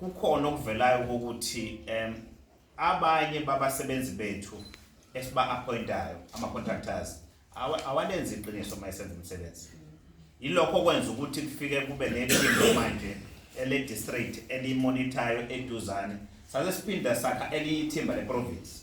Kukhona okuvelayo ukuthi um abanye babasebenzi bethu esiba-appointayo ama-contractors awalenzi iqiniso uma esenza umsebenzi yilokho okwenza ukuthi kufike kube nephimbo manje ele-district elimonithayo eduzane sase siphinda sakha elinye ithimba leprovinsi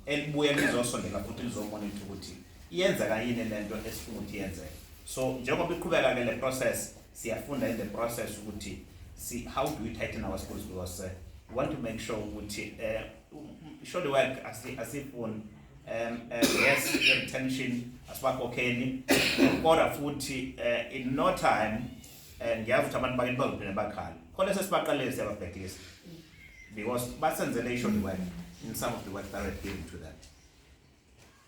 elibuye lizosondela futhi lizomonitha ukuthi iyenzeka yini le nto esifuna ukuthi yenzeke so njengoba iqhubeka-ke le process siyafunda in the process ukuthi si how do we tighten our schools because uh, we want to make sure ukuthi uh, surely work asifuni um, uh, yes retention asibakhokheli kodwa futhi uh, in no time uh, ngiyazi ukuthi abantu bakini bazophinde bakhala khona sesibaqalile siyababhekisa because basenzele isho the wife in some of the wife direct given to them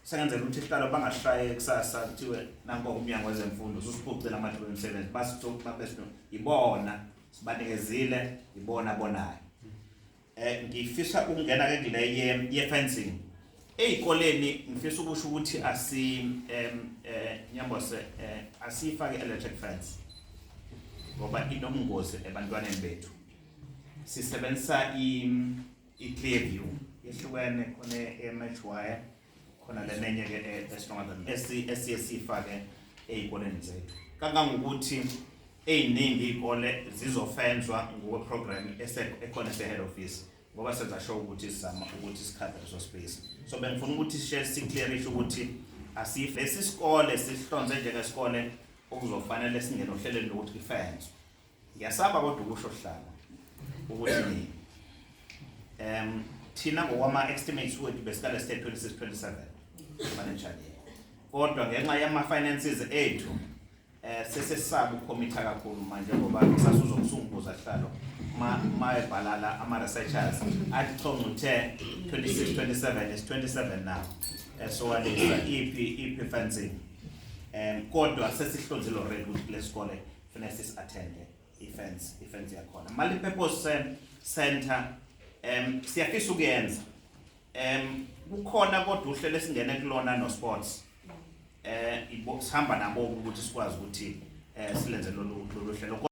sengenzela ukuthi ihlalo bangashaye kusasa kuthiwe nanko umnyango wezemfundo susiphucile amathuba emisebenzi basithokubabesto ibona sibanikezile ibona bonayo eh ngifisa ukungena ke kule ye, ye fencing ezikoleni ngifisa ukusho ukuthi asi em eh nyambose eh asifake electric fence ngoba inomngozi ebantwaneni bethu sisebenzisa i-clear view ihlukene khona e-match wire khona le nenye ke e-stronger than esiye siyifake ey'koleni zethu kangangokuthi ey'ningi iy'kole zizofenzwa ngokweprogram ekhona ese-head office ngoba senza sho ukuthi sizama ukuthi sikhave leso space so bengifuna ukuthi sishe siclearishe ukuthi asife lesi sikole sihlonze njengesikole okuzofanele singene ohlelweni lokuthi kufenzwe Ngiyasaba kodwa ukusho hlanga ukuthi em thina ngokwama estimates wethu besikale sithe 2627 manager yethu. Kodwa ngenxa yama finances ethu eh sesesaba ukhomitha kakhulu manje ngoba sasuzo kusunguza sihlalo ma mayebhalala ama researchers athi chonga uthe 2627 is 27 now. Eh, So walisa ipi ipi fencing. Em kodwa sesihlonzile already ukuthi lesikole Funa sis attende ifence ifence yakhona. Mali purpose eh, center em siyafisa ukuyenza. Em kukhona kodwa uhlelo esingene kulona no sports. Eh ibo sihamba nabo ukuthi sikwazi ukuthi eh silenze lolu lolu hlelo.